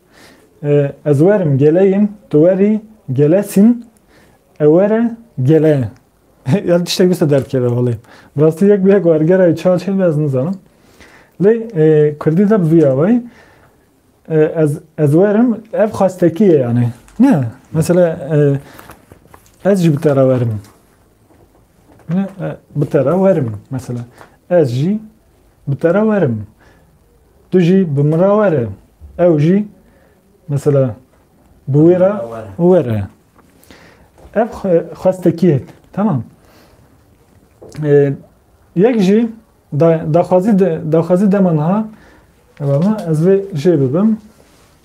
Ez werim gele yim, tu werî gelesîn, ew were gele. ya tiştek bise derkeve holê. Bi rastî yek bi yek wergera wî çar çêl be ez nizanim. Lê Kurdî de bi vî awayî ez ez werim ev xwestekî ye yanî. Ne, mesela ez jî bi te re werim. Ne, bi te re werim mesela. Ez jî bi te re werim. Tu jî bi min re were. Ew jî mesela bi wê re were. Ev xwestekî ye. Tamam. Yek jî daxwazî daxwazî dema niha ez vê jê bibim.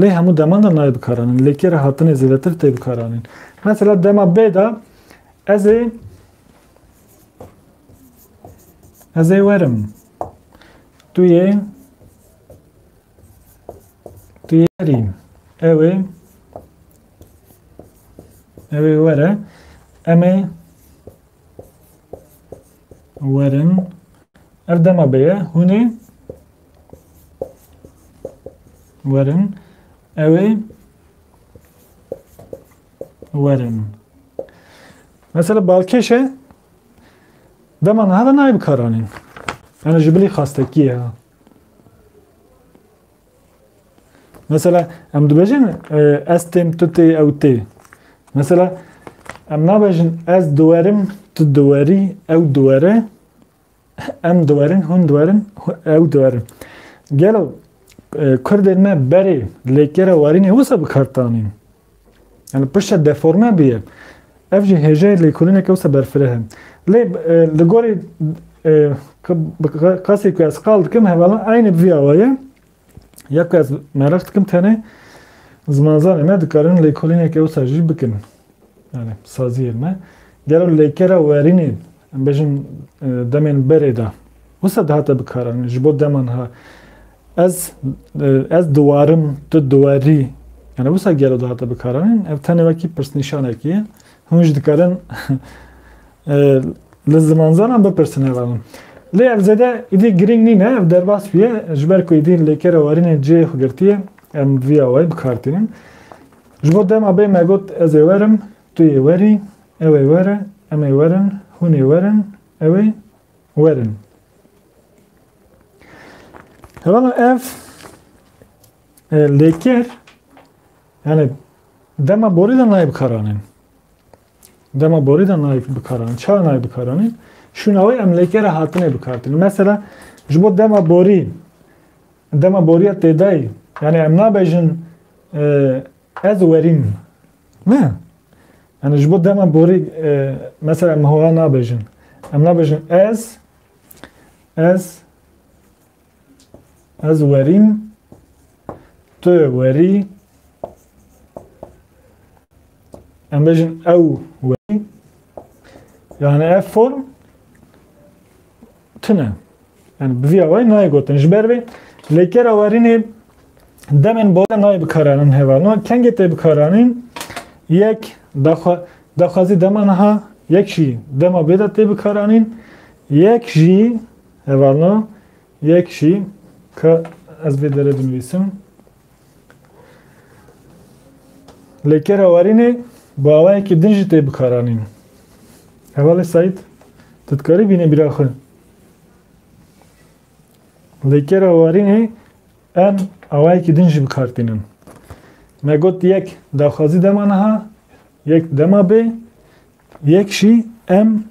Lê hemû deman de nayê bikaranîn. Lê kê re hatine zêdetir tê bikaranîn. Mesela dema bê de ez ê ez ê werim. Tu yê tu yê werî. Ew ê ew ê were. Em ê werin. Ev dema bê ye. Hûn ê Werin. Ew ê werin. Mesela balkêşe dema niha de nayê bikaranîn. Yani ji bilî xastekiye. Mesela em dibêjin ez têm tu tê ew tê. Mesela em nabêjin ez diwerim tu diwerî ew diwere Em diwerin, hûn diwerin, ew diwerin. Gelo Kurdên me berê lêkera warînê wisa bi kar tanîn? Yani pişta deforme bûye. Ev jî hêjayê lêkolîneke wisa berfireh in. Lê li gorî kasê ku ez qal dikim hevala aynî vî awa ye. Ya ku ez mereq dikim tenê zimanzanê me dikarin lêkolîneke wisa jî bikin. Yani saziyên me. Gelo lêkera werînê em bêjin demên berê de wisa dihate bikaran ji bo deman ha ez ez diwarim tu diwerî yani wisa gelo dihate bikaranîn ev tenê wekî pirsnîşanekî ye. Hûn jî dikarin li zimanzanan bipirsin heva min. Lê ev zêde êdî girîng nîne, ev derbas bûye ji ber ku êdî lêkera warînê cihê xwe girtiye, em bi vî awayî bi kar tînin. Ji bo dema bê me got ez ê werim, tu yê werî, ew ê were, em ê werin, hûn ê werin, ew ê werin. Hevala ev lêker. Yani dema borî de nayê bikaranîn. Dema borî de nayê bikaranîn. Çawa nayê bikaranîn? Şûnawê emlêkê re hatine bikartin. Mesela ji bo dema borî dema boriya têdayî yani em nabêjin ez werîm. Ne. Yani ji bo dema borî mesela em howa nabêjin. Em nabêjin ez ez Ez werîm, tu werî, em bêjin ew werî. Yani ev form tune. Yani bi vî awayî nayê gotin. Ji ber vê lêkera werînê demên bole nayê bikaranîn heva. No kengê tê bikaranîn yek daxwa daxwazî dema niha yek jî dema bê de tê bikaranîn yek jî Hevalna yek jî ka ez vê derê binivîsim. Lê kera warînê bi awayekî din jî tê bikaranîn. Hevalê Saîd, tu dikarî bînî bîra xwe. Lê kera warînê em awayekî din jî bi kar tînin. Me got yek daxwazî dema niha, yek dema bê, Yek jî em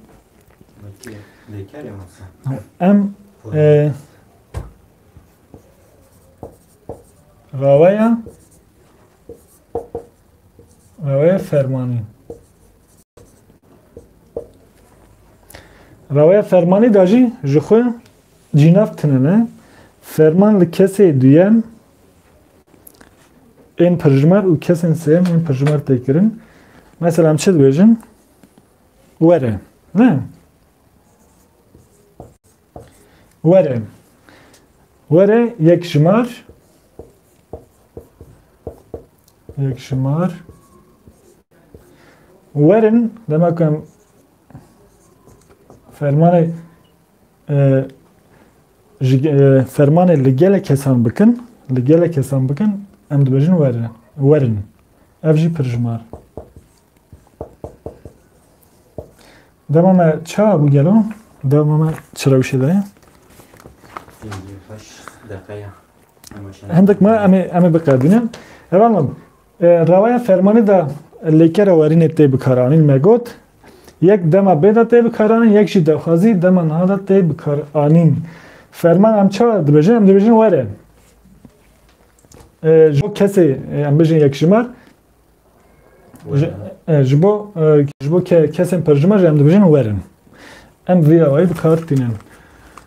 em e, rawaya rawaya fermanî rawaya fermanî da jî ji xwe cînav tinene ferman li kesê duyem Ên pirjimer û kesên sêyem ên pirjimer tê kirin. Mesela em çi dibêjin? Were. Ne? Were. Were yek jimar yek jimar werin demek em fermanê ji fermanê li gelek kesan bikin, li gelek kesan bikin, em dibêjin werin. Werin. Ev jî pirjimar. Dema me ça bû gelo, dema me çi rewşê de ye? Hindik me em ê biqedînin. Ev anlam, Rewaya fermanê de lêkera werînê tê bikaranîn me got, Yek dema bê de tê bikaranîn, yek jî daxwazî dema niha de tê bikaranîn. Ferman em çawa dibêjin? Em dibêjin were. Ji bo kesê em bijin yekjimar ji bo ji bo kesên perjimar jî em dibêjin werin. Em vî rewayî bi kar tînin.